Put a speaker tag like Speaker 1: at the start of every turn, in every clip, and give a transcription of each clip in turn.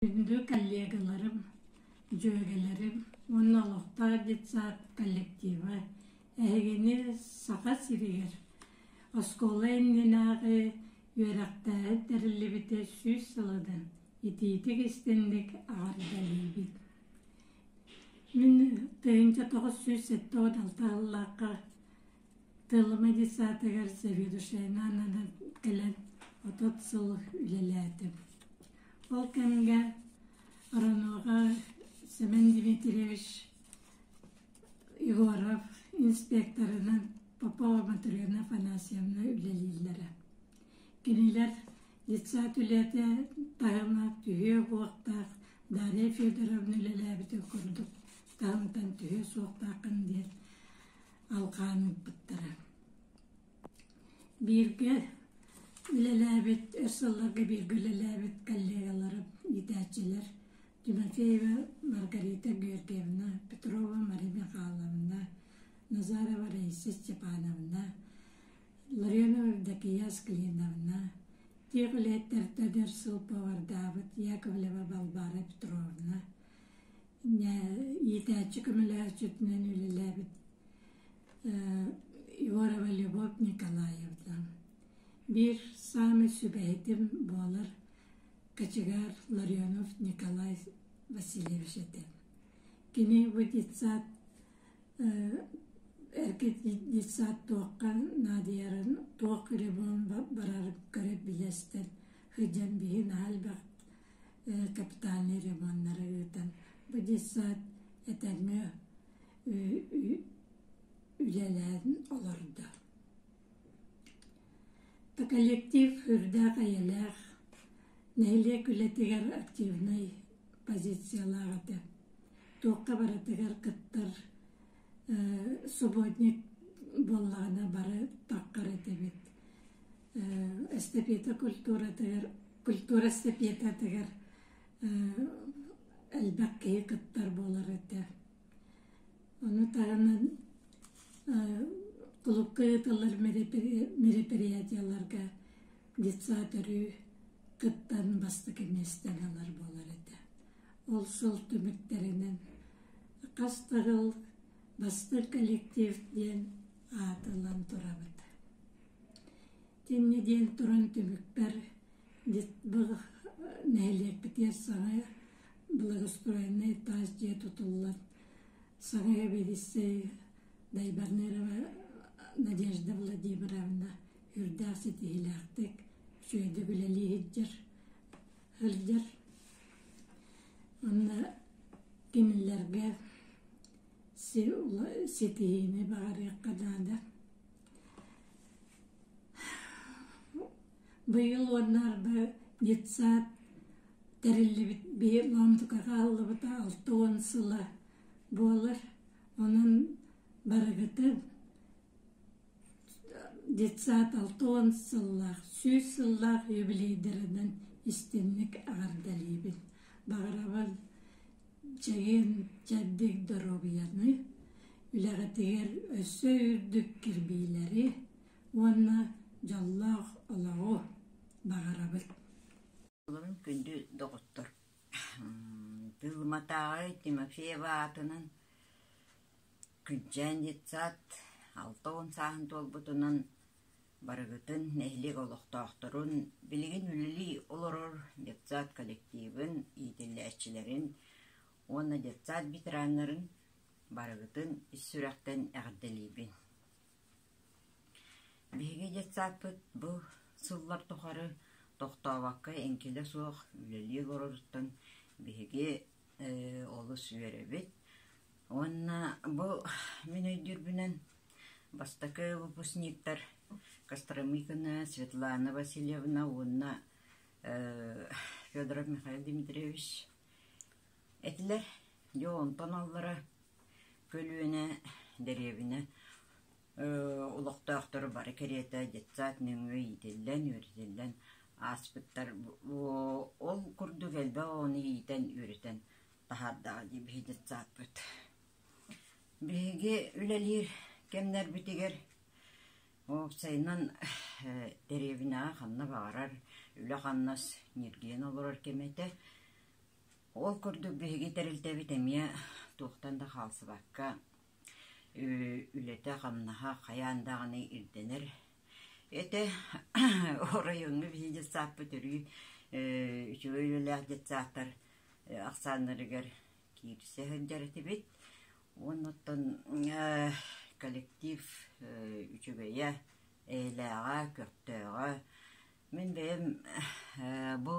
Speaker 1: Күндү коллегаларым, дьүөгэлэрим уонна олохтоох детсад коллектива эһигини Саха сиригэр оскуола иннинээҕи үөрэхтээһин тэриллибитэ сүүс сылыдан итиитик истинник аҕардаһыыбыт. Мин тыһыынча тоҕус сүүс сэттэ уон алта Телемедицатыгар заведующайнаананан кэлэн отут сыл үлэлээтим. Ол кэмҥэ Роноҕа Семен Дмитриевич Егоров инспекторынан Попова Мотрена Афанасьевна үлэлииллэрэ. Кинилэр детсад үлэтэ таһыма түһүө-уохтаах Дарья Федоровна үлэлээбитин курдук таһымтан түһүө суохтааххын диэн алҕаан ылбыттара. Бииргэ үлэлээбит, өр сылларга бииргэ үлэлээбит коллегаларым, иитээччилэр Тимофеева Маргарита Георгиевна, Петрова Мария Михайловна, Назарова Раиса Степановна, Ларионова Евдокия Асклиновна, тиэх үлэһиттэртэн өр сыл повардаабыт Яковлева Балбара Петровна, иитээччи көмөлөһөөччүтүнэн үлэлээбит Егорова Любовь Николаевна. Биир саамай сүбэһитим буолар кочегар Ларионов Николай Васильевич этэ. Кини бу детсад эркит детсад туохха наадыйарын туох любовун барарын көрөр билэстэр сыдьан биһин аһальбах капитальнай ремоннары ыытан бу детсад этерми үлэлээн олордо. коллектив үрдээх эйэлээх нэһилиэк үлэтигэр активнай позициялаах этэ туохха барытыгар кыттар субботник буоллаҕына бары таххар этибит эстэпиэта культуратыгар культура эстэпиэтэтигэр элбэх киһи кыттар буолар этэ ону таһынан кулукка ыытыллар мероприятияларга детсад өрүү кыттан бастакы миэстэни ылар буолар этэ ол сыл түмүктэринэн хас да жыл бастык коллектив диэн аатылан турабыт Тин нэдиэлэ туран түмүкпэр нэһилиэкпитигэр саҥа благоустроеннай таас дьиэ тутуллан саҥа эбилиссэй Дайбарнерова Надежда Владимировна үрдээх ситиһиилээхтик үчүгэйдик үлэлии сылдьар сылдьар уонна кинилэргэ ситиһиини баҕарыахха наада Быйыл уоннарга детсад тэриллибит биир муонтука хааллыбыта алта уон сыла буолар. Онон барыгыта детсад алта уон сыллаах, сүүс сыллаах юбилейдарынан истинник аҕардалиибин. Баҕарабын Дьэҥин дьэрдиҥ доруобуйаны, үлэҕитигэр өссө үрдүк кирбиилэри уонна дьоллоох олоҕу баҕарабыт! Былырыын күндү доҕоттор, Тыылыматааҕы Тимофеев аатынан Күнчээн детсад алта уон сааһын туолбутунан Барыгытын, нэһилиэк олохтоохторун, билигин үлэлии олорор детсад коллективын иитиллээччилэрин уонна детсад ветераннарын барыгытын ис сүрэхтэн эҕэрдэлиибин! Биһиги детсадпыт бу сыллар тухары тохтообокко эҥкилэ суох үлэлии олороруттан биһиги Ээ олус үөрэбит уонна бу мин өйдүүрбүнэн бастакы выпускниктар Костромыкина, Светлана Васильевна уонна ээ Федоров Михаил Дмитриевич этилэр. Дьэ онтон аллара көлүөнэ дэриэбинэ олохтоохторо бары кэриэтэ детсад нөҥүө иитиллэн үөрэтиллэн ааспыттар ол курдук элбэх оҕону иитэн үөрэтэн таһаардаҕа дии биһи детсадпыт биһиги үлэлиир кэмнэрбитигэр уопсайынан дэриэбинэҕэ ханна баҕарар үлэ-хамнас ньиргийэн олорор кэмэ этэ ол курдук биһиги тэрилтэбит эмиэ туохтан да хаалсыбакка үлэтэ-хамнаһа хайаан даҕаны ирдэнэр этэ оройуоҥҥа биһиги детсааппыт өрүү үчүгэй үлэлээх детсааттар ахсааннарыгар киирсэ сылдьар этибит оннуттан коллектив үчүгэйэ эйэлээҕэ көхтөөҕө мин бэйэм бу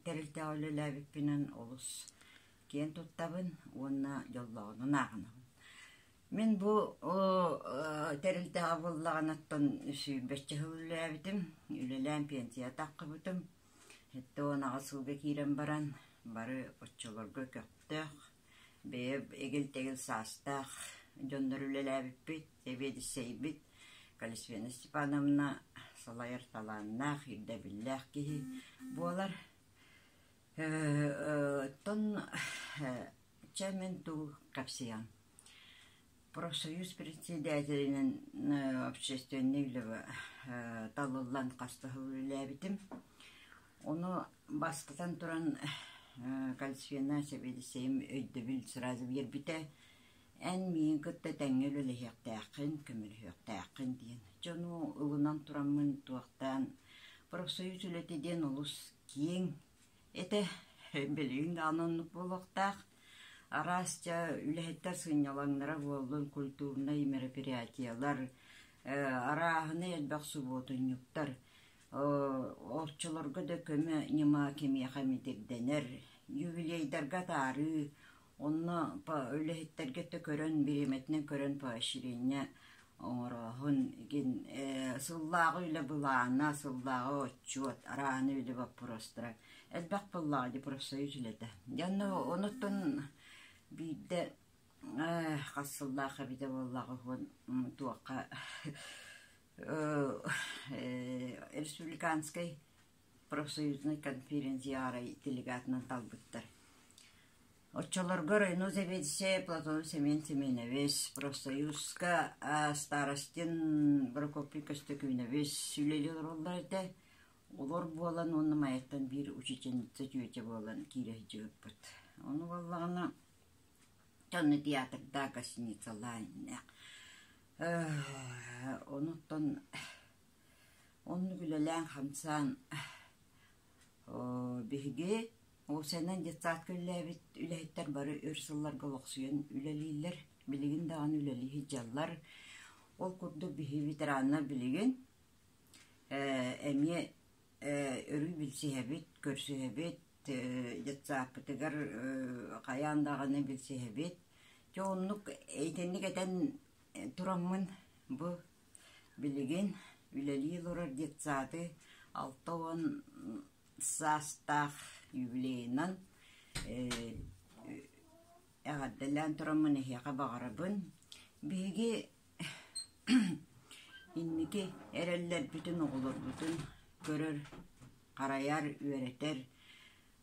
Speaker 1: тэрилтэҕэ үлэлээбиппинэн олус киэн туттабын уонна дьоллоҕунун ааҕынабын. Мин бу тэрилтэҕэ буллаҕынаттан сүүрбэччэ сыл үлэлээбитим. Үлэлээн пенсия таххыбытым. Сэттэ уон аҕыс сылга киирэн баран бары оччолорго көхтөөх, бэйэ эгил-тэгил саастаах дьоннор үлэлээбиппит, сэбиэдиссэйбит Калисфена Степановна салайар талааннаах, ирдэбиллээх киһи буолар. Оттон чэ мин тугу кэпсиэм профсоюз председателинэн общественнай үлэбэ талыллан хастаһыл үлэлээбитим ону бастатан туран калисфена сэбиэдиссэйим өйдөбүл сразу биэрбитэ Эн миигин кытта тэҥҥэ үлэлэһиэхтээххин, көмөлөһүөхтээххин диэн. Дьону ылынан тураммын туохтаан профсоюз үлэтэ диэн олус киэҥ этэ, билигин даҕаны оннук буолуохтаах. Араасча үлэһиттэр сынньалаҥнара буоллун, культурнай мероприятиелар, арааһынай элбэх субуотунньуктар, оччолорго да көмө ньыма кимиэхэ эмит ирдэнэр, юбилейдарга атаарыы Онно үлэһиттэргэ да көрөн, бириэмэтинэн көрөн поощрение оҥорооһун, игин сыллааҕы үлэ былаана, сыллааҕы отчуот, арааны үлэ боппуруостара элбэх буоллаҕа дии профсоюз үлэтэ. Дьэ онно онуттан биирдэ хас сыллаах эбитэ буоллаҕа уһун туохха республиканскай профсоюзнай конференц-арай делегатынан талбыттар. Оччолорго районо заведующайа Платон Семен Семенович, профсоюзка старостин Прокопий Көстөкүүнович үлэлии олороллор этэ. Олор буолан уонна майаттан биир учительница түөтэ буолан киирэ сылдьыбыппыт. Ону буоллаҕына Тонна театрда гостиницалаан иннэ. Онуттан Оннук үлэлээн-хамсаан биһиги уопсайынан детсадка үлэлээбит үлэһиттэр бары өр сылларга олохсуйан үлэлииллэр, билигин даҕаны үлэлии сылдьаллар. Ол курдук биһи ветераннар билигин эмиэ өрүү билсиһэбит, көрсүһэбит, детсадпытыгар хайаан даҕаны билсиһэбит. Дьэ оннук итинник этэн тураммын бу Билигин үлэлии олорор детсады алта уон саастаах юбилейынан ээ эҕэрдэлээн тураммын эһиэхэ баҕарабын. Биһиги инники эрэллэрбитин оҕолорбутун көрөр, харайар, үөрэтэр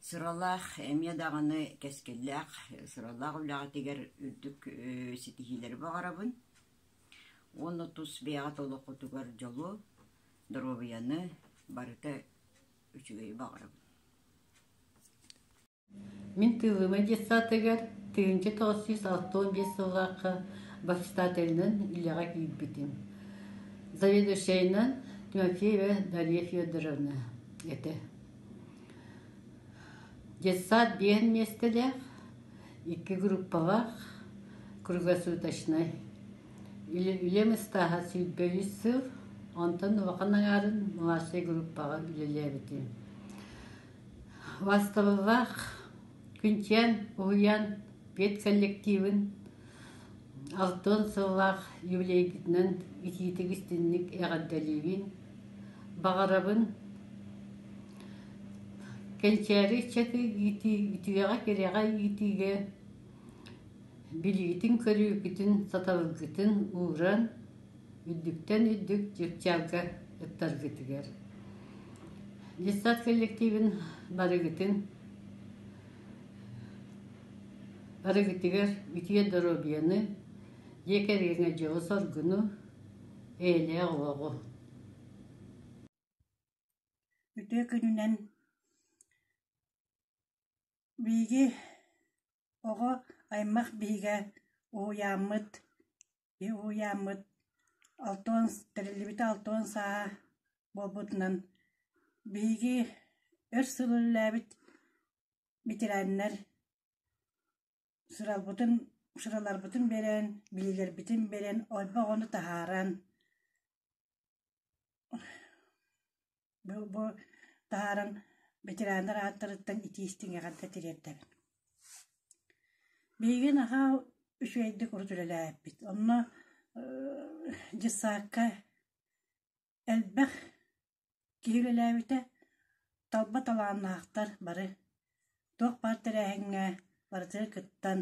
Speaker 1: сыралаах эмиэ даҕаны кэскиллээх сыралаах үлэҕитигэр үрдүк ситиһиилэри баҕарабын. Уонна тус бэйэҕит олоххутугар дьолу, доруобуйаны барыта үчүгэйи баҕарабын Мин тыылыма детсаатыгар тыһыынча тоҕус сүүс алтан биэс сыллаахха бастателынан үлэҕэ киирбитим. Заведующайынан Тимофеева Дарья Федоровна этэ. Детсад диэн миэстэлээх Икки группалаах круглосуточнай үлэм ыстааһа сүүрбэ үс сыл, онтон улахан аҥаарын младшай группаҕа үлэлээбитим. Бастабыллаах күнчээн уһуйаан педколлективын Алтан сыллаах юбилейгытынан итиитик истинник эҕэрдэлиибин, баҕарабын. Кэнчээри ыччаты иитии, үтүөҕэ-кэрэҕэ иитиигэ билиитин-көрүүкүтүн, сатабылгытын ууран, үрдүктэн үрдүк чыпчаалга ыттаргытыгар. Детсад коллективин барыгытын Барытыгар үтүө доруобуйаны, дьиэ кэргэҥҥэ дьолу-соргуну, эйэлээх олоҕу! Үтүө күнүнэн биһиги оҕо аймах биһигэ уһуйааммыт, киһи уһуйааммыт алтыан, тэриллибит алтыан сааһа буолбутунан биһиги өр сыл үлэлээбит Ветераннар сыралбытын, сыраларбытын берэн, билиилэрбитин берэн, ойбо оҕону таһааран, бу бу таһааран ветераннар ааттарыттан итиис тиҥэҕэрдэ тириэрдэбин. Биһиги нахаа үчүгэйдик урут үлэлээбиппит. Онно дьыссаакка Элбэх киһи үлэлээбитэ, талба талааннаахтар бары туох баар тэрээһиҥҥэ барытыгар кыттан,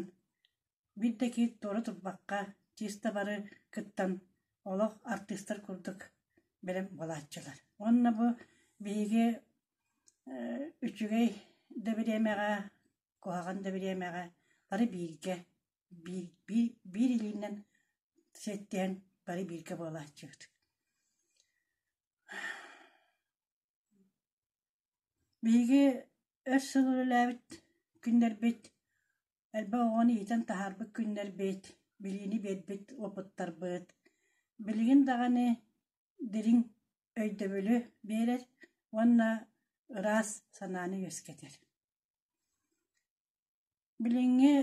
Speaker 1: биир да киһи туора турбакка чисто бары кыттан олох артыыстар курдук бэлэм буолааччылар. Уонна бу биһиги үчүгэй да бириэмэҕэ, куһаҕан да бириэмэҕэ бары бииргэ биирдии биир илиинэн сэттээн бары бииргэ буолааччыт Биһиги өр сыл үлэлээбит күннэрбит элбэх оҕону иитэн таһаарбыт күннэрбит, билиини биэрбит уопуттарбыт билигин даҕаны дириҥ өйдөбүлү биэрэр уонна ыраас санааны үөскэтэр. Билиҥҥи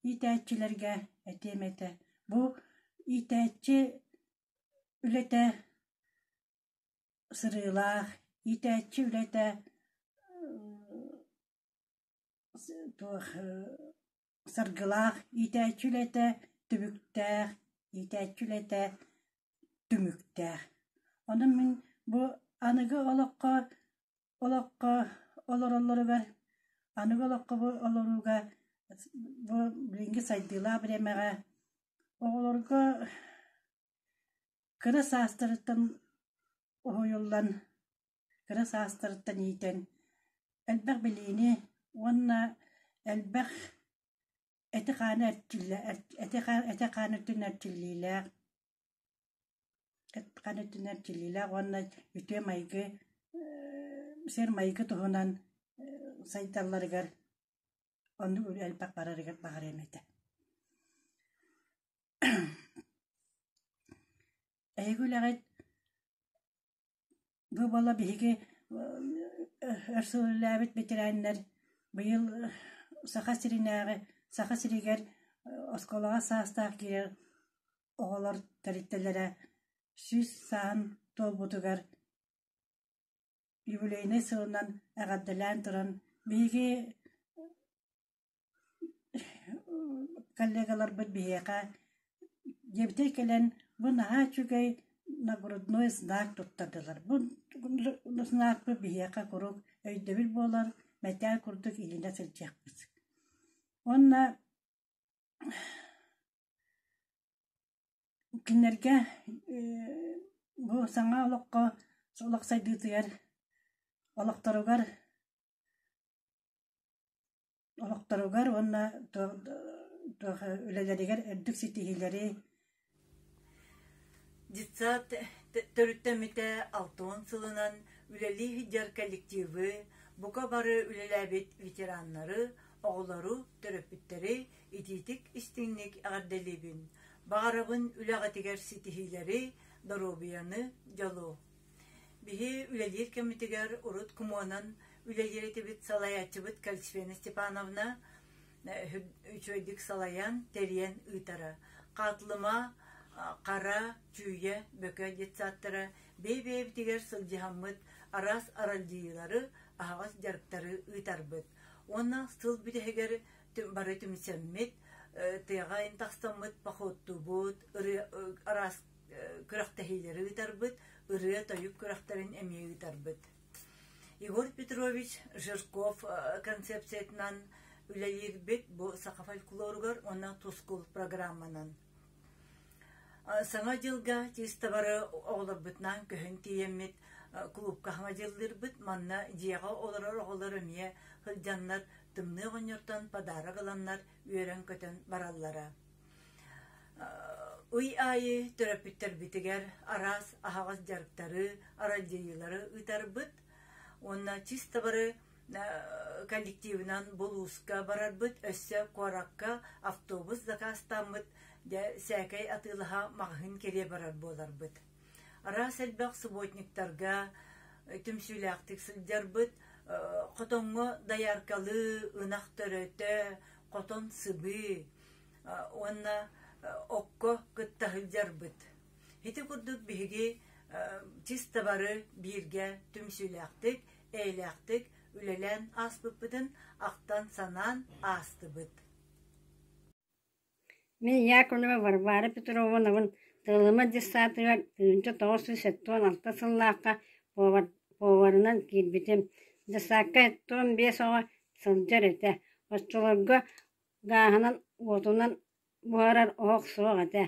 Speaker 1: иитээччилэргэ этиэм этэ, бу иитээччи үлэтэ сырыылаах, иитээччи үлэтэ туох саргылаах, иитээччи үлэтэ түбүктээх, иитээччи үлэтэ түмүктээх. Онон мин бу аныгы олоххо олоххо олороллоругар аныгы олоххо олорууга бу билиҥҥи сайдыылаах бириэмэҕэ оҕолорго кыра саастарыттан уһуйуллан кыра саастарыттан иитэн элбэх билиини уонна элбэх эти-хааны эрчиллэ эти-хааны өттүнэн эрчиллиилээх Ытхан өттүнэн тилиилээх уонна үтүө майгы, сир-майгы туһунан сайдалларыгар, оннук элбэх барарыгар баҕарыам этэ. Эһиги үлэҕит Бу буола биһиги өр сыл үлэлээбит бэтэрээннэр быйыл Саха сиринээҕи Саха сиригэр оскуолаҕа саастаах киирэр оҕолор тэрилтэлэрэ сүүс сааһын туолбутугар юбилейнай сылынан эҕэрдэлээн туран биһиги Коллегаларбыт биһиэхэ дьиэбитигэр кэлэн бу наһаа үчүгэй нагрудной знак туттардылар. Бу знакпыт биһиэхэ куруук өйдөбүл буолан мэтээл курдук илинэ сылдьыахпыт. Уонна кинилэргэ бу саҥа олоххо, олох сайдыытыгар, олохторугар Олохторугар уонна туох үлэлэригэр үрдүк ситиһиилэри Детсад төрүттэммитэ алта уон сылынан үлэлии сылдьар коллективы, бука бары үлэлээбит ветераннары, оҕолору, төрөппүттэри итиитик-истиҥник эҕэрдэлиибин, баҕарабын үлэҕитигэр ситиһиилэри, доруобуйаны, дьолу! Биһи үлэлиир кэммитигэр урут кумуонан үлэлиир этибит, салайааччыбыт Кальцфена Степановна үчүгэйдик салайан, тэрийэн ыытара. Хаатылыма, Хара, Чүүйэ, Бөкө детсадтара бэйэ-бэйэбитигэр сылдьыһаммыт араас аралдьыйыылары, аһаҕас дьарыктары ыытарбыт. Уонна сыл бүтэһигэр бары түмсэммит, тыаҕа ынтахтаммыт походтуубут, араас күрэхтэһиилэри ыытарбыт, ырыа-тойук күрэхтэрин эмиэ ыытарбыт. Егор Петрович Жирков концепциятынан үлэлиирбит бу саха фольклоругар уонна тускул программанан. Саҥа дьылга тиистабары оҕолорбутунаан көһөн тиийэммит клубка хаҥа дьыллырбыт, манна дьиэҕэ олорор оҕолор эмиэ сылдьаннар тымныы оҕонньортон подарок ыланнар үөрэн-көтөн бараллара. Ый аайы төрөппүттэрбитигэр араас аһаҕас дьарыктары, аралдьыйыылары ыытарбыт уонна чисто бары коллективынан булууска барарбыт, өссө куоракка автобус закаастааммыт, дьэ сээкэй атыылаһа маҕаһыын кэрийэ барар буоларбыт. Араас элбэх субботниктарга түмсүүлээхтик сылдьарбыт, хотоҥҥо дояркалыы, ынах төрөтө, хотон сыбыы, уонна окко кытта сылдьарбыт. Ити курдук биһиги чисто бары бииргэ түмсүүлээхтик, эйэлээхтик үлэлээн ааспыппытын ахтан-санаан аастыбыт. Мин Яковлева Варвара Петровнабын Тылыма десантыгар тыынча тоҕус сүүс сэттион алта сыллаахха поварынан киирбитим. Десантка тоҕус биэс оҕо сылдьар этэ. Оччолорго Гааһынан, уотунан буһарар оһох суох этэ,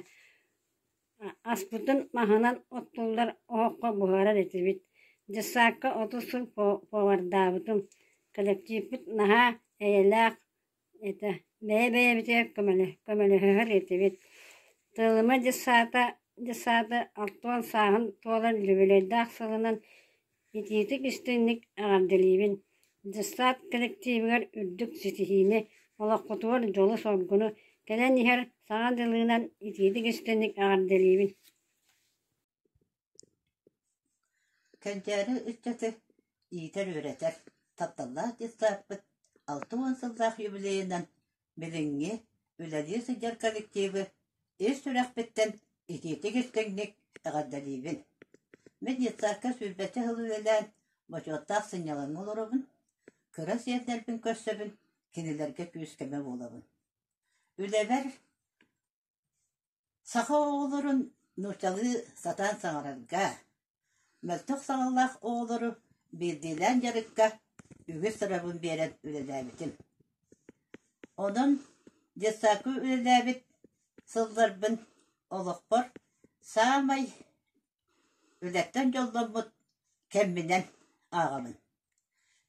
Speaker 1: аспытын маһынан оттуллар оһоххо буһарар этибит. Дьыссаакка отут сыл повардаабытым, кэлэктииппит наһаа эйэлээх этэ, бэйэ-бэйэбитигэр көмөлөһөр этибит. Тыалыма дьыссаата, дьыссаата алтыан сааһын туолан, үбүлүөйдээх сылынан Итиитик истиҥник эҕэрдэлиибин! Дьыссаат кэлэктиибигэр үрдүк ситиһиини, олоххутугар дьолу-соргуну, кэлэн иһэр саҥа дьылыынан итиитик истиҥник эҕэрдэлиибин! Кэнчээри ыччаты иитэр-үөрэтэр тапталлаах дьыссааппыт алта уон сыллаах юбилейынан Билиҥҥи, үлэлии сылдьар коллективы ис сүрэхпиттэн итиитик истиҥник эҕэрдэлиибин. Мин детсадка сүүрбэччэ сыл үлэлээн, бочуоттаах сынньалаҥҥа олоробун, кыра сиэрдэрбин көрсөбүн, кинилэргэ күүс-көмө буолабын. Үлэбэр Саха оҕолорун нууччалыы сатаан саҥарарга, мөлтөх саҕалаах оҕолору биирдиилээн дьарыкка үгүс сырабын биэрэн үлэлээбитим. Онон детсадка үлэлээбит сылларбын олохпор саамай үлэттэн дьолломмут кэмминэн ааҕабын.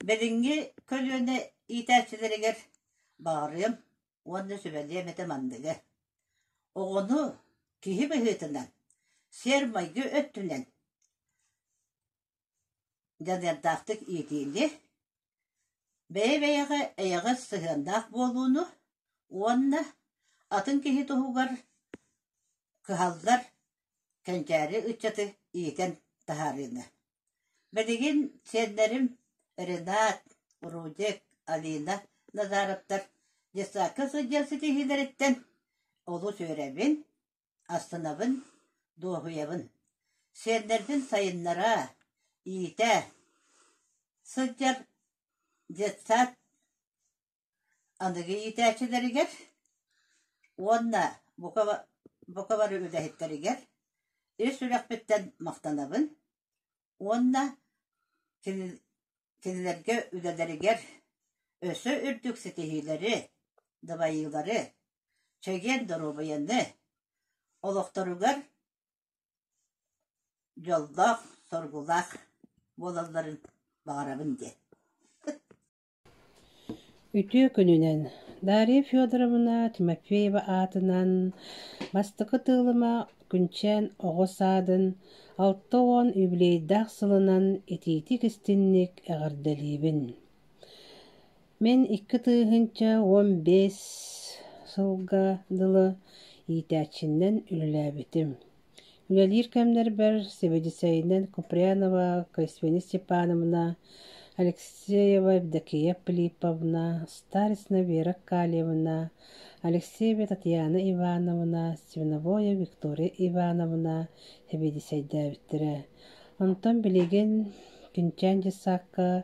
Speaker 1: Билиҥҥи көлүөнэ иитээччилэригэр баҕарыам уонна сүбэлиэм этэ манныгы. Оҕону киһи быһыытынан, сиэр-майгы өттүнэн дьаныардаахтык иитиини, бэйэ-бэйэҕэ эйэҕэс сыһыаннаах буолууну уонна атын киһи туһугар кыһаллар Кэнчээри ыччаты иитэн таһаарыыга. Билигин сиэннэрим Ренат, Рудик, Алина Назаровтар детсадка сылдьар ситиһиилэриттэн олус үөрэбин, астынабын, дуоһуйабын. Сиэннэрбин сайыннараа, иитээ сылдьар детсад Аныгы иитээччилэригэр уонна бука бука бары үлэһиттэригэр ис сүрэхпиттэн махтанабын уонна кини кинилэргэ үлэлэригэр өссө үрдүк ситиһиилэри, дабайыылары, чэгиэн доруобуйаны, олохторугар дьоллоох, соргулаах буолалларын баҕарабын диэн Үтүө күнүнэн, Дария Федоровна Тимофеева аатынан Бастакы тыылыма Күнчээн оҕо саадын алта уон юбилейдаах сылынан итиитик-истинник эҕэрдэлиибин! Мин икки тыһыынча уон биэс сылга дылы иитээччинэн үлэлээбитим. Үлэлиир кэмнэрбэр Сибидисэйинэн Купрянова Каисвени Степановна, Алексеева Евдокия Филипповна, Старицына Вера Калиевна, Алексеева Татьяна Ивановна, Свиновоя Виктория Ивановна сибидисэйдээбиттэрэ. Онтон билигин Күнчээн дьассаакка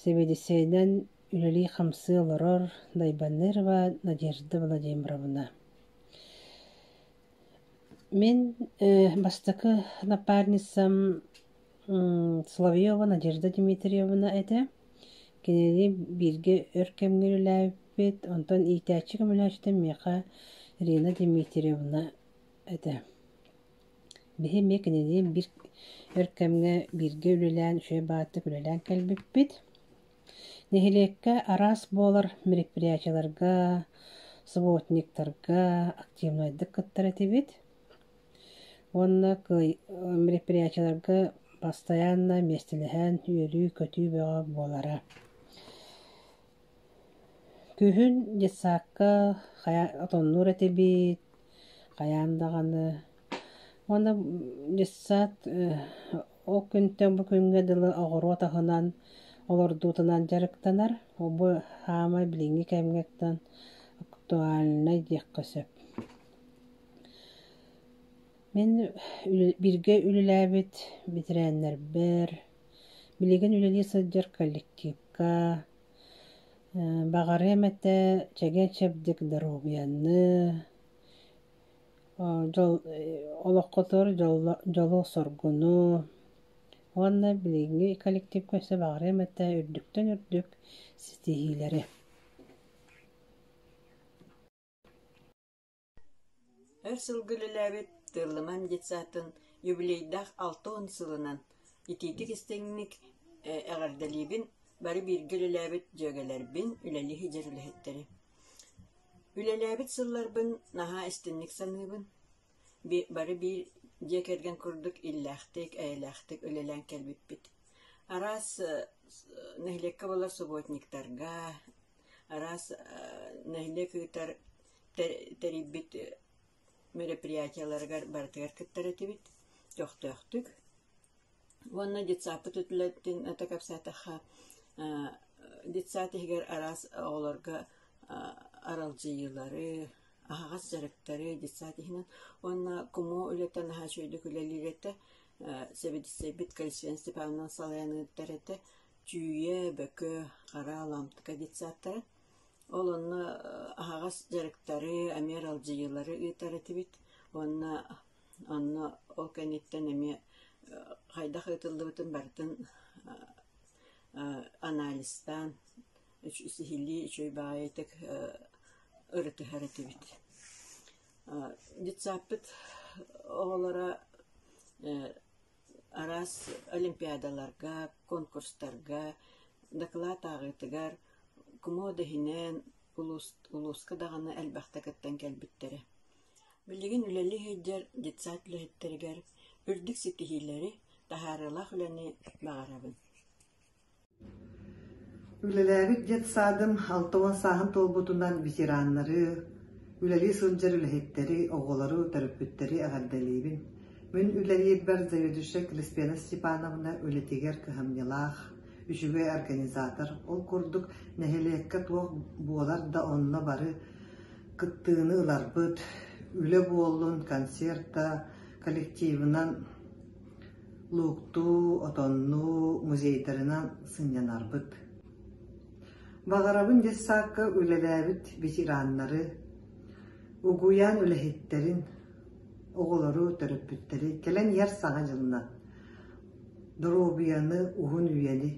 Speaker 1: Сибидисэйинэн үлэлии-хамсыы олорор Дайбаннырова Надежда Владимировна. Мин бастакы напарницам Соловьева Надежда Дмитриевна этэ. Кинини бииргэ өр кэмҥэ үлэлээбиппит, онтон иитээччи көмөлөөччүтэ миэхэ Рина Дмитриевна этэ. Биһи эмиэ кинини биир өр кэмҥэ бииргэ үлэлээн, үчүгэй баҕатык үлэлээн кэлбиппит. Нэһилиэккэ араас буолар мероприятиеларга, субботниктарга активнайдык кыттар этибит. Уонна мероприятиеларга бастайаанна миэстэлэһэн үөрүү-көтүү бөҕө буолара. Күһүн детсадка отоннуур этибит, хайаан даҕаны. Уонна детсад Ол күнтэн бу күҥҥэ дылы оҕуруот аһынан, олордуутунан дьарыктанар. Бу саамай билиҥҥи кэмҥэттэн актуальнай диэххэ сөп. Мин бииргэ үлэлээбит ветераннарбар, билигин үлэлии сылдьар коллективка баҕарыам этэ чэгиэн-чэбдик доруобуйаны, дьол олоххутугар дьолу-соргуну уонна билиҥҥи коллективка өссө баҕарыам этэ үрдүктэн үрдүк ситиһиилэри өр сылга үлэлээбит тыыллыман детсадтан юбилейдаах алта уон сылынан итиитик истиҥник эҕэрдэлиибин бары бииргэ үлэлээбит дьүөгэлэрбин үлэлиһи дьэр үлэһиттэри Үлэлээбит сылларбын наһаа истинник саныыбын, бары биир дьиэ кэргэн курдук иллээхтик, эйэлээхтик үлэлээн кэлбиппит. Араас нэһилиэккэ буолар субботниктарга, араас нэһилиэк ыытар тэрийбит мероприятиеларыгар барытыгар кыттар этибит, көхтөөхтүк. Уонна детсадпыт үтүлэтин ата кэпсээтэххэ, детсад иһигэр араас оҕолорго аралдьыйыылары, аһаҕас дьарыктары детсад иһинэн уонна кумоо үлэтэ наһаа үчүгэйдик үлэлиир этэ. Сэбиэдиссэйбит Калисфен Степановна салайан ыытар этэ. Чүүйэ, Бөкө, Хара, Лампка детсадтара. Ол онно аһаҕас дьарыктары, эмиэ аралдьыйыылары ыытар этибит уонна Онно ол кэнниттэн эмиэ хайдах ыытыллыбытын барытын анализтаан сиһилии үчүгэй баҕайытык ырытыһар этибит. Детсадпыт оҕолоро араас олимпиадаларга, конкурстарга, дакылаат ааҕыытыгар кумуода иһинэн улууска даҕаны элбэхтэ кыттан кэлбиттэрэ. Билигин үлэлии сылдьар детсад үлэһиттэригэр үрдүк ситиһиилэри, таһаарыылаах үлэни баҕарабын. Үлэлээбит детсадым алта уон сааһын туолбутунан ветераннары, үлэлии сылдьар үлэһиттэри, оҕолору, төрөппүттэри эҕэрдэлиибин. Мин үлэлиирбэр заведующай Криспена Степановна үлэтигэр кыһамньылаах, үчүгэй организатор. Ол курдук нэһилиэккэ туох буолар да онно бары кыттыыны ыларбыт, үлэ буоллун концерта коллективынан лууктуу, отоннуу, музейдарынан сынньанарбыт. Баҕарабын дессаакка үлэлээбит ветераннары, угуйаан үлэһиттэрин, оҕолору, төрөппүттэри кэлэн иһэр саҥа дьылла доруобуйаны, уһун үйэни,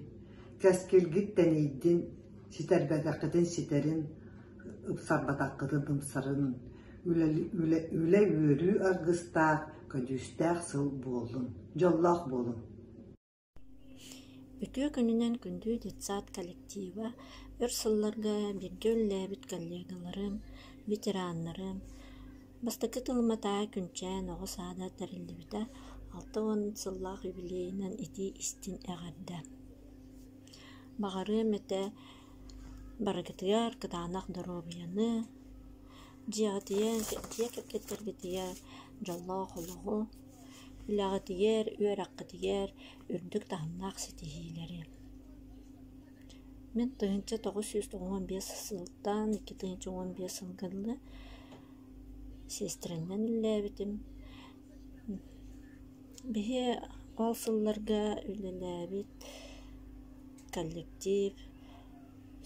Speaker 1: кэскилгит тэнийдин, ситэрбэтэххитин ситэрин, ымсарбатаххытына бымсарын, үлэ үөрүү аргыстаах, көдьүүстээх сыл буоллун, дьоллоох буолун! Үтүө күнүнэн күндү детсад коллектива, өр сылларга бииргэ үлэлээбит коллегаларым, ветераннарым, бастакы тылыматаа күнчээн оҕо саада тэриллибитэ алта уон сыллаах юбилейынан итии истин эҕэрдэ. Баҕарыам этэ Барыгытыгар кытаанах доруобуйаны, дьиэҕитигэр, дьиэ кэргэттэргитигэр дьоллоох олоҕу, үлэҕитигэр, үөрэххитигэр үрдүк таһымнаах ситиһиилэри. Мин тыһыынча тоҕус сүүс уон биэс сылтан икки тыһыынча уон биэс сылга дылы сиэстэрэннэн үлэлээбитим. Биһи ол сылларга үлэлээбит коллектив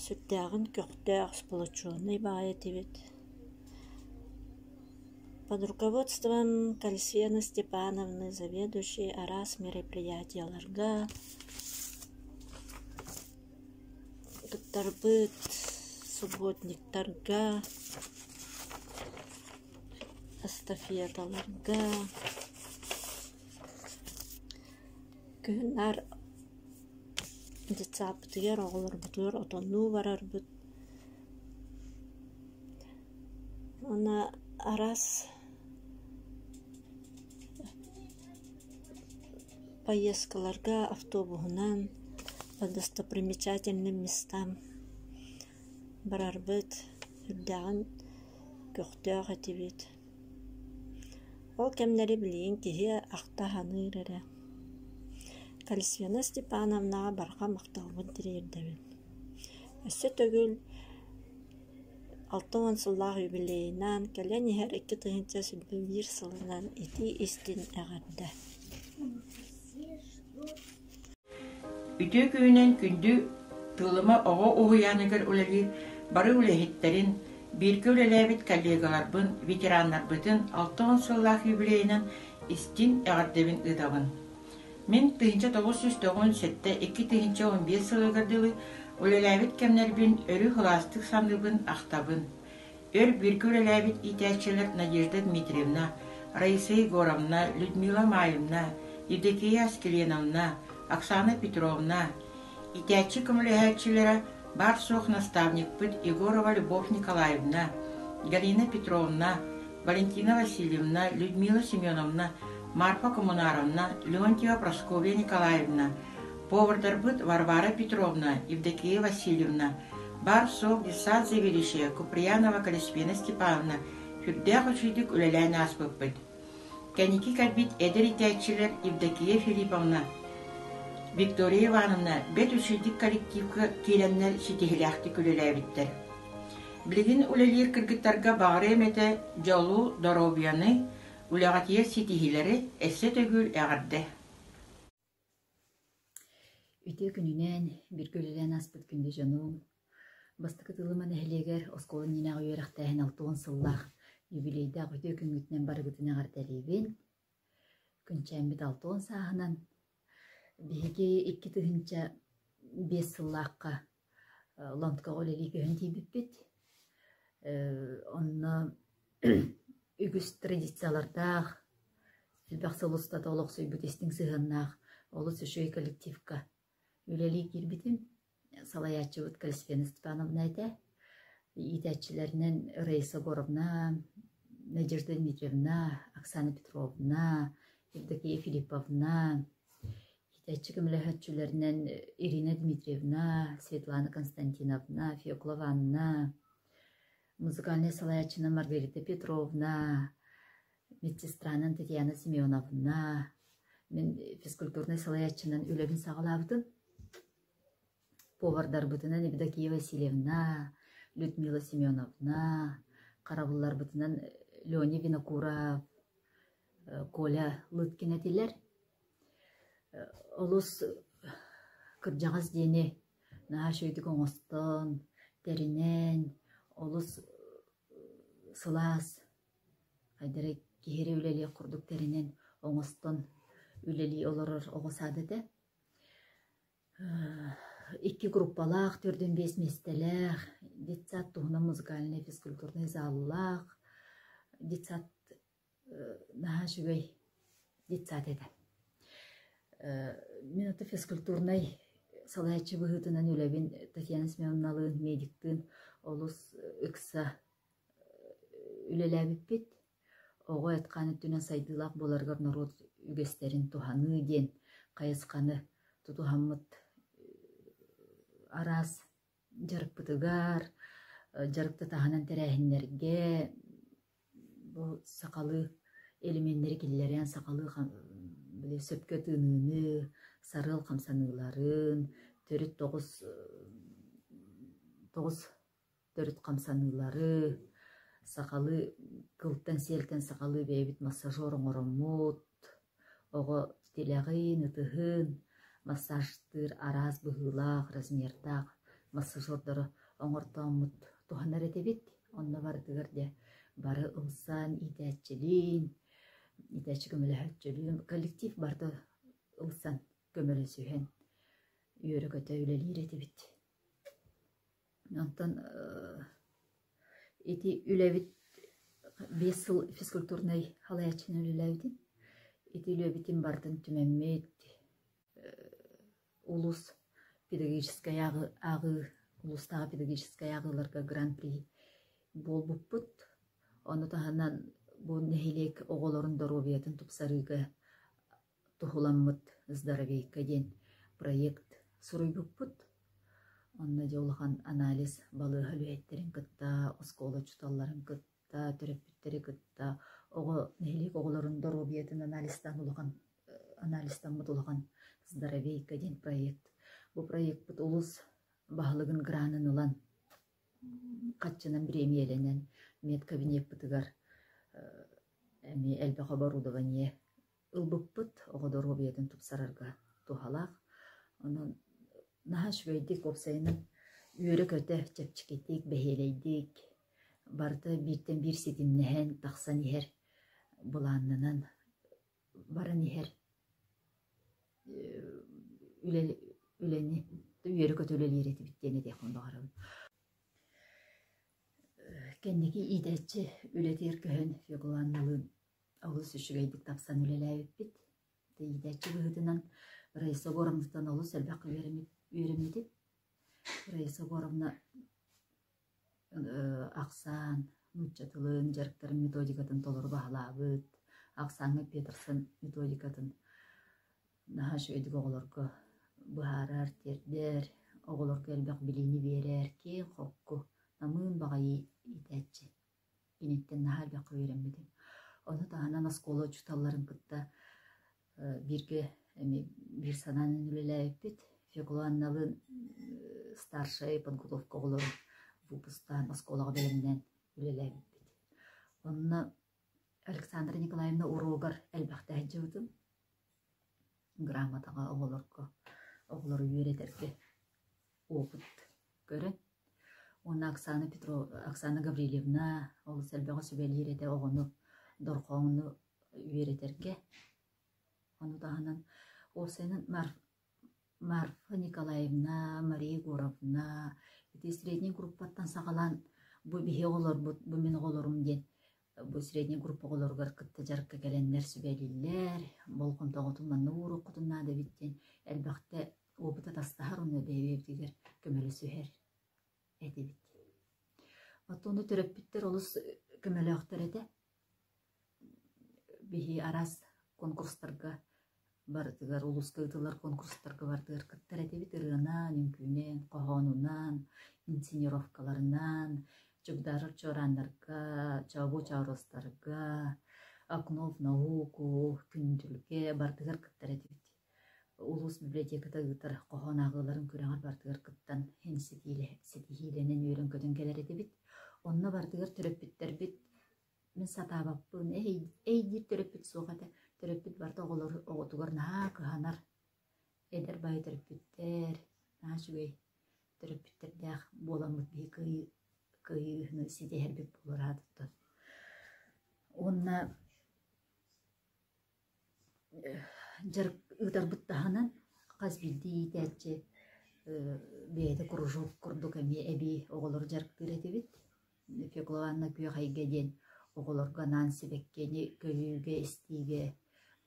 Speaker 1: сүрдээҕин көхтөөх сплоченный баай этибит под руководством кальсена степановны заведующей араас мероприятиеларга туттарбыт субботниктарга эстафеталарга Күһүн наар детсааппытыгар оҕолорбутугар отоннуу барарбыт. Уонна араас поездкаларга автобуһунан достопримечательным местам барарбыт, үрдээҕин көхтөөх этибит. Ол кэмнэри билигин киһи ахта саныыр эрэ: Кальсена Степановнаҕа барҕа махталбын тириэрдэбин. Өссө төгүл алта уон сыллаах юбилейнаан, кэлэн иһэр икки тыһыынча сүүрбэ биир сылынан итии истин эҕэрдэ! Үтүө күнүнэн күндү Тыылыма оҕо уһуйааныгар үлэлиир бары үлэһиттэрин, бииргэ үлэлээбит коллегаларбын, ветераннарбытын алта уон сыллаах юбилейынан истиҥ эҕэрдэбин ыытабын. Мин тыһыынча тоҕус сүүс тоҕун сэттэ икки тыһыынча он биэс сылыгар дылы үлэлээбит кэмнэрбин өрүү сылаастык саныыбын, ахтабын. Өр бииргэ үлэлээбит иитээччилэр Надежда Дмитриевна, Раиса Егоровна, Людмила Маевна, Евдокия Аскеленовна, Оксана Петровна, иитээччи көмөлөһөөччүлэрэ, баар-суох наставникпыт Егорова Любовь Николаевна, Галина Петровна, Валентина Васильевна, Людмила Семеновна, Марфа Коммунаровна, Леонтьева Прасковья Николаевна, повардарбыт Варвара Петровна, Евдокия Васильевна, Баар-суох Дьыссаат Сэбиэдиссэйэ Куприянова Калисфена Степановна сүрдээх үчүгэйдик үлэлээн ааспыппыт. Кэнники кэлбит эдэр иитээччилэр Евдокия Филипповна, Виктория Ивановна бэрт үчүгэйдик коллективка киирэннэр ситиһилээхтик үлэлээбиттэр. Билигин үлэлиир кыргыттарга баҕарыам этэ дьолу, доруобуйаны, үлэҕитигэр ситиһиилэри өссө төгүл эҕэрдэ! Үтүө күнүнэн, биргэ үлэлээн ааспыт күндү дьонум! Бастакы Тылыма нэһилиэгэр оскуола иннинээҕи үөрэхтээһин алта уон сыллаах юбилейдаах үтүө күҥҥүтүнэн барыгытын эҕэрдэлиибин! Күнчээммит алта уон сааһынан биһиги икки тыһыынча биэс сыллаахха ланткаҕа үлэлии көһөн тиийбиппит. онно үгүс традициялардаах, элбэх сыл устата олохсуйбут истиҥ сыһыаннаах олус үчүгэй коллективка үлэлии киирбитим. Салайааччыбыт Калисфена Степановна этэ. Иитээччилэринэн Раиса Егоровна, Надежда Дмитриевна, Оксана Петровна, Евдокия Филипповна, Китэччи көмөлөһөөччүлэринэн Ирина Дмитриевна, Светлана Константиновна, Феоклова Анна, музыкальнай салайааччынан Маргарита Петровна, медсестранан Татьяна Семеновна, мин физкультурнай салайааччынан үлэбин саҕалаабытым. Повардарбытынан Евдокия Васильевна, Людмила Семеновна, харабылларбытынан Леня Винокуров, Коля Лыткин этилэр. Олус кырдьаҕас диэни наһаа үчүгэйдик оҥостон, тэринэн, олус сылаас хайдары киһиэхэ үлэлиэх курдук тэринэн оҥостон үлэлии олорор оҕо саада этэ. Икки группалаах, төрдүн биэс миэстэлээх, детсад туһунан музыкальнай физкультурнай зааллаах, детсад наһаа үчүгэй детсад этэ. мин аты физкультурнай салайааччы быһыытынан үлэбин Татьяна Семеновналыын, медиктыын олус ыкса үлэлээбиппит. Оҕо айткаан өттүнэн сайдыылаах буоларыгар норуот үгэстэрин туһаныы диэн хайысханы тутуһаммыт араас Дьарыкпытыгар, дьарыктатаһынан тэрээһиннэргэ бу сахалыы элеменнэри киллэрэн сахалыы сөпкө тыыныыны, сарыал хамсаныыларын, төрүт тоҕус тоҕус төрүт хамсаныылары, сахалыы кылтан-сиэлтэн сахалыы бэйэбит массажер оҥороммут. Оҕо тилэҕиин, ытыһыын массажтыыр араас быһыылаах, размердаах массажердары оҥортооммут туһанар этибит. Онно барытыгар дьэ бары ылсан иитээччилиин, иитээччи көмөлөһөөччүлүүн, коллектив барыта ылсан көмөлөсүһэн үөрэ-көтө үлэлиир этибит. Онтон ити үлэбит биэс сыл физкультурнай салайааччынан үлэлээбитим. Ити үлэбитин бардын түмэммит улуус педагогическай ааҕыы улуустааҕы педагогическай ааҕыыларга гран-при буолбуппут. Ону таһынан бу нэһилиэк оҕолорун доруобуйатын тупсарыыга туһуламмыт «Здоровейка» диэн проект суруйбуппут. Онно дьэ улахан анализ балыыһа үлэһиттэрин кытта, оскуола учууталларын кытта, төрөппүттэри кытта, оҕо нэһилиэк оҕолорун доруобуйатын анализтаан улахан анализтаммыт улахан «Здоровейка» диэн проект. Бу проекпыт улус баһылыгын гранын ылан хаччынан бириэмийэлэнэн медкабинеппытыгар эмиэ элбэх оборудование ылбыппыт оҕо доруобуйатын тупсарарга туһалаах. Онон наһаа үчүгэйдик уопсайынан үөрэ-көтө, чэпчэкитик, бэһиэлэйдик, барыта бииртэн биир ситимнэһэн, тахсан иһэр былааннанан баран иһэр үлэ үлэни үөрэ-көтө үлэлиир этибит диэн этиэхпин баҕарабын. Кэнники иитээччи үлэтигэр көһөн Феоглан Налыын Олус үчүгэйдик тахсан үлэлээбиппит. Иитээччи быһыытынан Раиса Егоровнаттан олус элбэххэ үөрэммитим. Раиса Егоровна ахсаан, нуучча тылын, дьарыктарын методикатын толору баһылаабыт, ахсааҥҥа Петерсон методикатын наһаа үчүгэйдик оҕолорго быһаарар, тиэрдэр, оҕолорго элбэх билиини биэрэр киэҥ-холку, намыын баҕайы иитээччи. Киниттэн наһаа элбэххэ үөрэммитим. Ону таһынан оскуола учууталларын кытта бииргэ эмиэ биир санаан үлэлээбиппит. Фекла Анналыын старшай подготовка оҕолорун выпустаан оскуолаҕа бэлэмнээн үлэлээбиппит. Онно Александра Николаевна уруогар элбэхтээк дьыбытым. Грамотаҕа оҕолорго, оҕолору үөрэтэргэ опыт көрөн уонна Оксана Петрова, Оксана Гаврильевна олус элбэҕи сүбэлиир этэ оҕону, дорҕооҥну үөрэтэргэ. Ону таһынан ОСН-ын Мар- Марфа Николаевна, Мария Егоровна ити средний группаттан саҕалаан бу биһи оҕолорбут, бу мин оҕолорум диэн Бу средний группа оҕолоругар кытта дьарыкка кэлэннэр сүбэлииллэр, болҕомтоҕутун манна ууруоххутун наада эбит диэн элбэхтэ опыт атастаһар уонна бэйэбитигэр көмөлөсүһэр этибит. Оттон ону төрөппүттэр олус көмөлөөхтөр этэ. Биһи араас конкурстарга Барытыгар улууска ыытыллар куонкурстарга бардыгар кыттар этибит ырыанан, үҥкүүнэн, хоһоонунан, инсценировкаларынан, Чугдаарар чуорааннарга, Чообу чооруостарга, Окно в науку, Күндүлгэ бардыгар кыттар этибит. Улуус библиотеката ыытар хоһоон ааҕыыларын күрэҕэр бардыгар кыттан эн ситиилэ ситиһиилэнэн үөрэн-көтөн кэлэр этибит. Онно бардыгар төрөппүттэрбит Мин сатаабаппын, эйдиир төрөппүт суох этэ. Төрөппүт барыта оҕолор оҕотугар наһаа кыһанар. Эдэр баҕайы төрөппүттэр наһаа үчүгэй төрөппүттэрдээх буоламмыт биһи кыайыы кыайыыны ситиһэрбит буолар аатыттан. Уонна Дьарык ыытарбыт таһынан хас биирдии иитээччи бэйэтэ кружок курдук эмиэ эбии оҕолору дьарыктыыр этибит. Фекловна Күөхэйгэ диэн оҕолорго анаан сибэккини көрүүгэ, истиигэ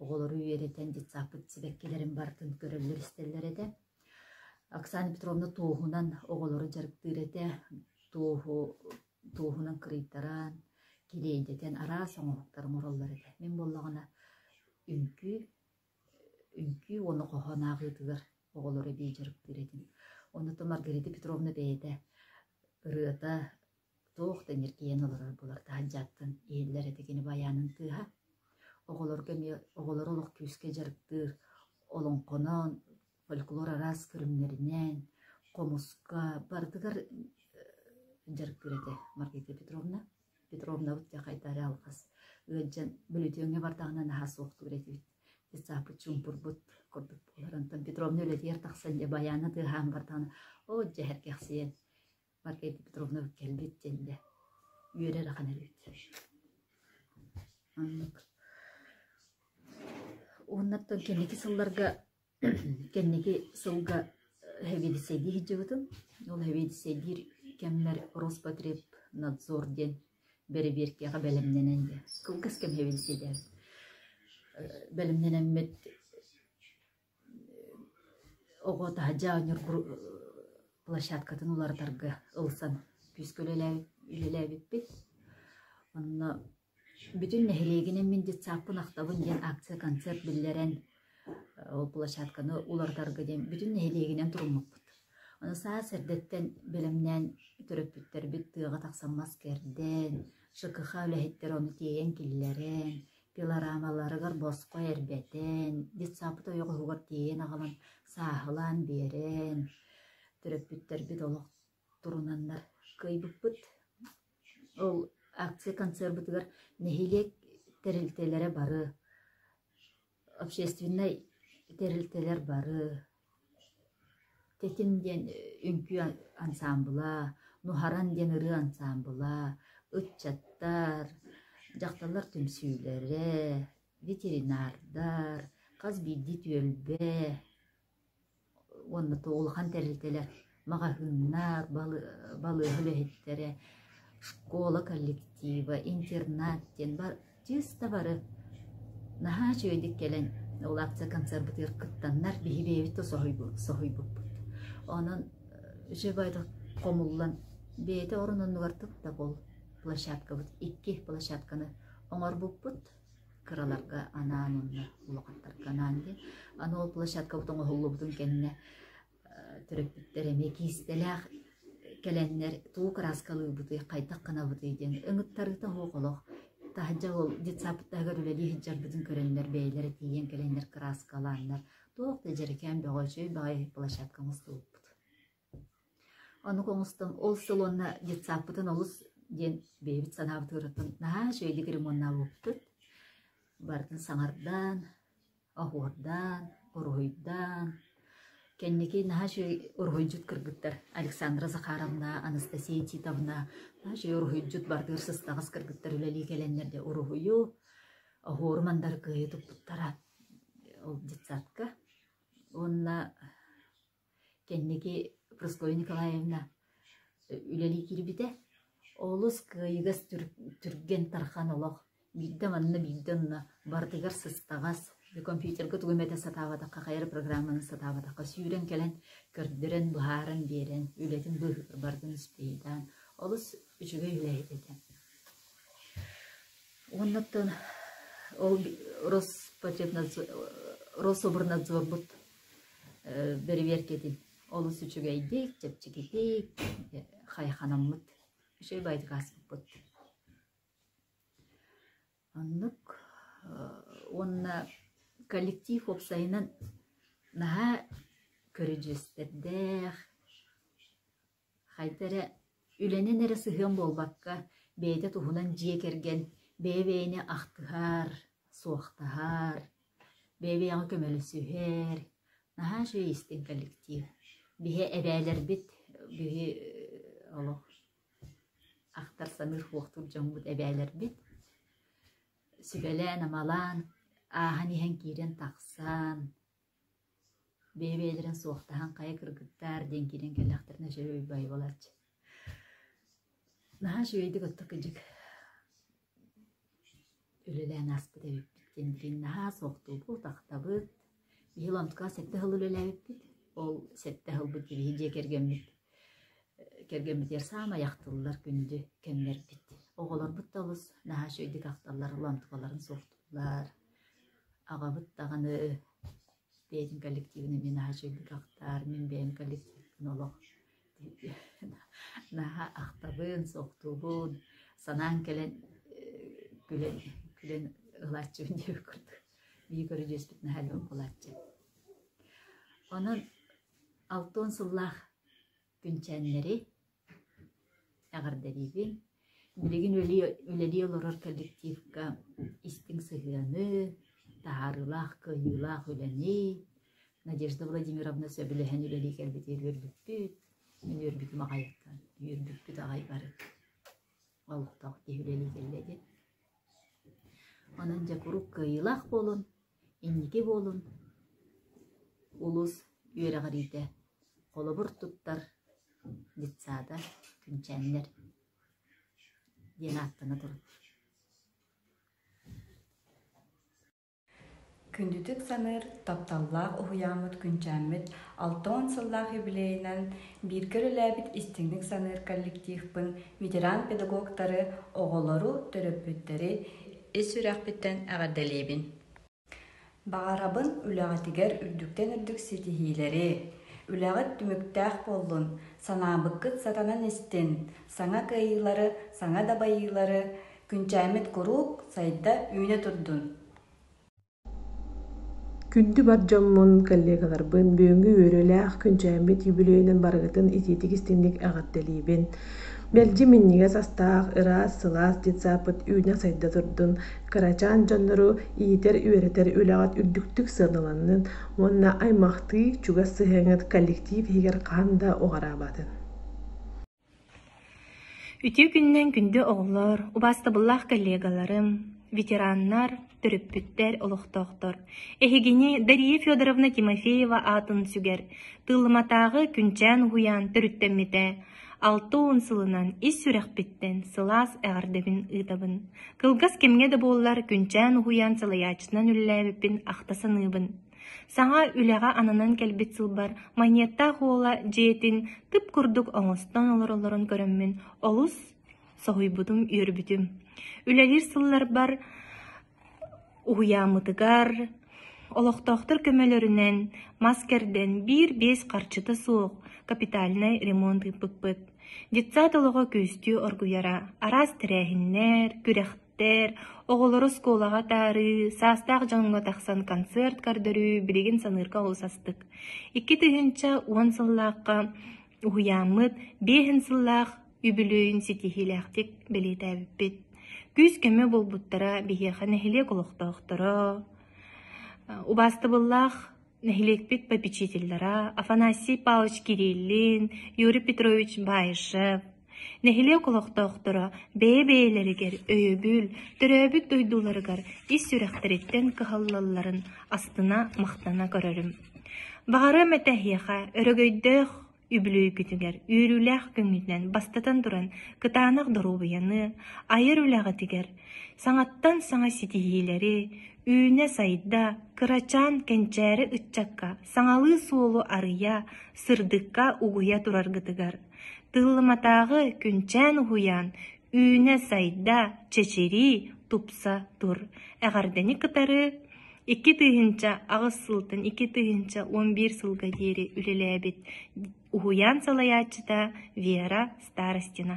Speaker 1: оҕолору үөрэтэн детсадпыт сибэккилэрин барытын көрөллөр-истэллэр этэ. Оксана Петровна туоһунан оҕолору дьарыктыыр этэ. Туоһу туоһунан кырыйтаран, килиэйдэтэн араас оҥоһуктары оҥороллор этэ. Мин буоллаҕына үҥкүү, үҥкүү уонна хоһооноох ыытыгар оҕолору эбии дьарыктыыр этим. Оннуттан Маргарита Петровна бэйэтэ ырыата туох да ньиргийэн олорор булар таһырдьаттан иһиллэр этэ кини байаанын тыаһа. Оҕолорго эмиэ оҕолору олох күүскэ дьарыктыыр, олоҥхоноон, Фольклор араас көрүҥнэринээн хомуска барытыгар дьарык этэ Маргарита Петровна. Петровнабыт дьэ хайда эрэ алҕас ыалдьан бөлүтүөҥҥэ бардаҕына наһаа суохтук этибит. Детсаппыт чуумпурбут курдук буолар. Онтон Петровна үлэтигэр тахсан дьэ байаана тыаһаан бардаҕына оо дьэ эргэхсийэн Маргарита Петровнабыт кэлбит диэннэ үөрэр ахан эрбит. Оннук. Уоннаттан кэнники сылларга Кэнники сылга сэбиэдиссэйдии сылдьыбытым. Ол сэбиэдиссэйдиир кэммэр Роспотребнадзор диэн бэрэбиэркэҕэ бэлэмнэнэн кылгас кэм сэбиэдиссэйдээбит. Бэлэмнэнэммит оҕо таһырдьа оонньуур площадкатын уларытарга ылсан күүскэ үлэлээбиппит. Онно Бүтүн нэһилиэгинэн мин детсадпын ахтабын диэн акция-концерт биллэрэн, ол площадканы уларытарга диэн бүтүн нэһилиэгинэн туруммуппут. Аны саас эрдэттэн бэлэмнээн төрөппүттэрбит тыаҕа тахсан маскэрдээн, ШКХ үлэһиттэрэ ону тиэйэн киллэрэн, пилорамаларыгар босхо эрбэтэн, детсадпыт ойоҕоһугар тиэйэн аҕалан сааһылаан биэрэн, төрөппүттэрбит олох турунаналар кыайбыппыт. Ол акция концербытыгар нэһилиэк тэрилтэлэрэ бары, общественнай тэрилтэлэр бары, Тэтим диэн үҥкүү ансаамбыла, Нуһаран диэн ырыа ансаамбыла, ыччаттар, дьахталлар түмсүүлэрэ, ветеринардар, хас биирдии түөлбэ уонна то улахан тэрилтэлэр маҕаһыыннар, балыыһа үлэһиттэрэ, школа коллектива, интернат диэн чыыста бары наһаа үчүгэйдик кэлэн ол акция-концербытыгар кыттаннар биһи бэйэбит да соһуйбуппут. Онон жабайдык хомуллан бэйэтэ орун оннугар тып-табыл площадкабыт икки площадканы оҥорбуппут кыраларга анаан уонна улахаттарга анаан диэн аны ол площадкабыт оҥоһуллубутун кэннэ төрөппүттэр эмиэ киистэлээх кэлэннэр тугу кырааскалыыбытый хайдах гынабытый диэн ыҥыттарыыта оһох олох таһырдьа ол детсаппыттарыгар үлэлии сылдьарбытын көрөннөр бэйэлэрэ тиийэн кэлэннэр кырааскалааннар туох да дьэрэкээн бөҕөчөй баҕайы площадка оҥостубуппут Онук оҥостон ол салонна детсадпытын олус диэн бэйэбит санаабытыгар наһаа үчүгэйдик ремоннаабыппыт. Барытын саҥардаан, оһуордаан, уруһуйдаан, кэнники наһаа үчүгэй уруһуйдьут кыргыттар Александра Захаровна, Анастасия Титовна наһаа үчүгэй уруһуйдьут бардыгар сыстаҕас кыргыттар үлэлии кэлэннэр диэ уруһуйу, оһуору мандары кыайа туппуттара ол детсадка. Уонна Кэнники Прасковья Николаевна үлэлии киирбитэ. Олус кыайыгас түргэн тархан олох. Биирдэ манна, биирдэ онно барытыгар сыстаҕас, компьютерга тугу эмэтэ сатаабатахха, хайар программаны сатаабатахха сүүрэн кэлэн көрдөрөн, быһааран биэрэн, үлэтин быыһыгар бардын испиһиэйдээн олус үчүгэй үлэһит этэ. Уоннаттан ол Роспотребнадзор, Рособорнадзорбут бэрэбиэркэтин олус үчүгэйдик, чэпчэкитик хайханаммыт, үчүгэй байтыкааспыппыт. Оннук уонна коллектив уопсайынан наһаа көрүдьүөстэрдээх, Хайда эрэ үлэнэн эрэ сыһыан буолбакка, бэйэтэ туһунан дьиэ кэргэн бэйэ-бэйэни ахтыһар, суохтаһар, бэйэ-бэйэҕэ көмөлөсүһэр, наһаа үчүгэй истиҥ коллектив. Биһи эбээлэрбит, биһи олох ахтар-саныыр куохтуур дьоммут эбээлэрбит. Сүбэлээн-амалаан, ааһан иһэн киирэн тахсан Бэйэ-бэйэлэрин суохтаһан хайа кыргыттаар диэн киирэн кэллэхтэринэ үчүгэй уйбай буолааччы. Наһаа үчүгэйдик оттук-ындьык үлэлээн ааспыт эбиппит диэн билигин наһаа суохтуубут, ахтабыт. Биһиги ломкаҕа сэттэ сыл үлэлээбиппит, ол сэттэ сылбыт биһиги дьиэ кэргэммит кэргэммитигэр саамай ахтыллар күндү кэмнэрбит. Оҕолорбут да олус наһаа үчүгэйдик ахталлар, ломталарын суохтууллар. Аҕабыт даҕаны бэйэтин коллективын эмиэ наһаа чөлүгэр ахтар, мин бэйэм коллективпын олох наһаа ахтабын, суохтуубун, санаан кэлэн күлэн күлэн ылааччыбын диэбит курдук бии көрүдьүөспүт наһаа лөҥ булааччы. Онон алты уон сыллаах Күнчээннэри эҕэрдэлиибин. Билигин үлэлии олорор коллективка истиҥ сыһыаны, таһаарыылаах, кыайыылаах үлэни Надежда Владимировна сөбүлэһэн үлэлии кэлбитигэр үөрбүппүт. Мин үөрбүтүм аҕайыттан, үөрбүппүт аҕай бары олохтоох киһи үлэлии кэллэ диэн. Онон дьэ куруук кыайыылаах буолун, Инники буолун улус үөрэҕириитэ, холобур туттар детсада Күнчээннэр диэн ааттана турар Күндүтүк саныыр, тапталлаах уһуйааммыт Күнчээммит алта уон сыллаах юбилейынан бииргэ үлэлээбит истиҥник саныыр коллективпын ветеран педагогтары, оҕолору, төрөппүттэри ис сүрэхпиттэн эҕэрдэлиибин баҕарабын үлэҕитигэр үрдүктэн үрдүк ситиһиилэри үлэҕит түмүктээх буоллун санаабыккыт сатанан истин саҥа кыайыылары саҥа дабайыылары күнчээммит куруук сайда үүнэ турдун Күндү бар дьоммун, коллегаларбын, бүгүҥҥү үөрүүлээх күнчээммит юбилейынан барыгытын итиитик истиҥник эҕэрдэлиибин. Мэлдьи минньигэс астаах, ыраас, сылаас детсааппыт үүнэ-сайда турдун, кырачаан дьоннору иитэр-үөрэтэр үлэҕит үрдүктүк сыаналаннын уонна аймахтыы чугас сыһыаҥыт коллектив иһигэр хаһан да уҕараабатын! Үтүө күнүнэн күндү оҕолор, убаастабыллаах коллегаларым, ветераннар, төрөппүттэр, олохтоохтор! Эһигини Дария Федоровна Тимофеева аатын сүгэр Тыылыматааҕы Күнчээн уһуйаан төрүттэммитэ алта уон сылынан ис сүрэхпиттэн сылаас эҕэрдэбин ыытабын. Кылгас кэмҥэ да буоллар Күнчээн уһуйаан салайааччытынан үлэлээбиппин ахта саныыбын Саҥа үлэҕэ ананан кэлбит сылбар манньыаттаах уола дьиэтин тып курдук оҥостон олороллорун көрөммүн олус соһуйбутум, үөрбүтүм. Үлэлиир сылларбар уһуйааммытыгар олохтоохтор көмөлөрүнэн мас кэрдэн биир-биэс харчыта суох капитальнай ремонт ыыппыппыт. Детсад олоҕо күстүү оргуйара. Араас тэрээһиннэр, күрэх Ээр оҕолоро оскуолаҕа атаарыы, саастаах дьоҥҥо тахсан концерт көрдөрүү билигин саныырга олус астык. Икки тыһыынча уон сыллаахха уһуйааммыт биэһин сыллаах үбүлүөйүн ситиһиилээхтик бэлиэтээбиппит. Күүс-көмө буолбуттара биһиэхэ нэһилиэк олохтоохторо, убаастабыллаах Нэһилиэкпит попечителлара Афанасий Павлович Кириллин, Юрий Петрович Баишев, нэһилиэк олохтоохторо бэйэ-бэйэлэригэр өйөбүл, төрөөбүт дойдуларыгар ис сүрэхтэриттэн кыһаллалларын астына-махтана көрөрүм. Баҕарыам этэ эһиэхэ өрөгөйдөөх Үбүлүөйгүтүгэр үөрүүлээх күҥҥүтүнэн бастатан туран кытаанах доруобуйаны, айар үлэҕитигэр, саҥаттан саҥа ситиһиилэри, үүнэ-сайда, кырачаан кэнчээри ыччакка саҥалыы суолу арыйа, сырдыкка угуйа тураргытыгар, тыллыматааҕы күнчээн уһуйаан үүнэ-сайда, чэчирии, тупса тур, эҕэрдэни кытары Икки тыһыынча аҕыс сылтан икки тыһыынча уон биир сылга диэри үлэлээбит уһуйаан салайааччыта Вера Старостина